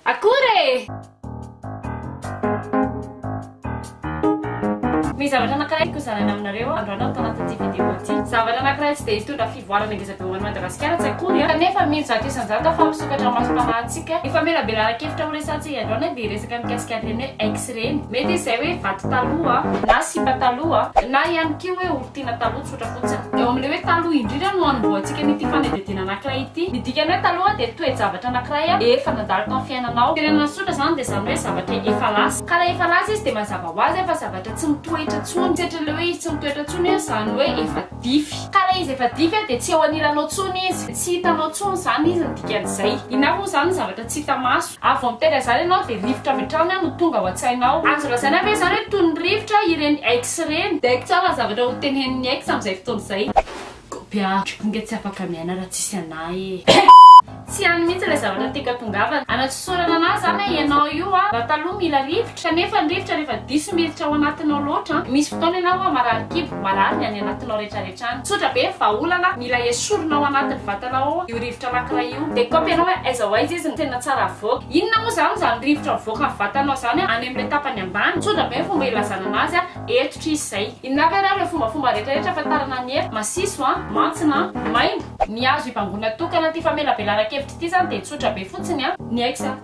Akory e! Misy zavatra anankiray hozaraina aminareo androany aho tao anatin'ity vidéo ity. Zavatra anankiray tsy dia hitondra fivoarana ngezabe ho an'i Madagasikara tsy akory an! Kanefa mino zato isan-jato aho fa hampisokatra ny masom-panahintsika ny famelabelaran-kevitra horesahantsika androany dia resaka mikasika an'ireny hoe ex ireny. Mety izy izay hoe vato taloha na sipa taloha na ihany koa hoe olon-tiana taloha. Eo amin'ilay hoe taloha indrindra no anombohantsika an'ity fanadihadiana anankiray ity. Ny dikan'ny hoe taloha dia toe-javatra anankiray efa nandalo tao amin'ny fiainanao. Tena nasosotra izany dia izany hoe zavatra efa lasa. Ka rehefa lasa izy dia mazava ho azy fa zavatra tsy mitoetra intsony. Tsy hatrehin'ilay hoe izy tsy mitoetra intsony hoe izany hoe efa dify. Ka ilay izy efa dify dia tsy eo anilanao intsony izy. Tsy hitanao intsony izany izy ny dikan'izay. Inona avy moa izany ny zavatra tsy hita maso? Ary vao miteny an'izany ianao dia rivotra avy hatrany no tonga ao an-tsainao. Azo lazaina ve izany hoe toy ny rivotra ireny ex ireny? Dia haiko tsara ny zavatra hotenenin'ny ex amin'izay fotoana izay. Kobia ah, ry ponga tsy afaka miaina raha tsisy anah eh. Tsy any mihitsy ilay zavatra tiako hatongavana. Anatsosorana anah izany eh ianao io ah. Raha taloha mila rivotra. Kanefa ny rivotra rehefa diso miditra ao anatinao loatra, misy fotoana ianao hoa marary kibo, marary ny any anatinao rehetrarehetra any. Tsotra be, vahaolana, mila esorina ao anatin'ny vatanao ao io rivotra anankiray io. Dia kôpy anao hoe aiza ho aiza izy no tena tsara avoaka. Inona moa izany izany rivotra mivoaka ny vatanao izany any amin'ilay tapany ambany? Tsotra be ny fomba ilazana anazy a, eto tris izay. Inona avy ary ireo fombafomba rehetrarehetra ahafantarana ny hery? Masiso a, mantsina a, maimbo. Ny azo hibangoina tokana ity famelabelaran-kevitra ity izany dia tsotra be fotsiny a. Ny Ex a.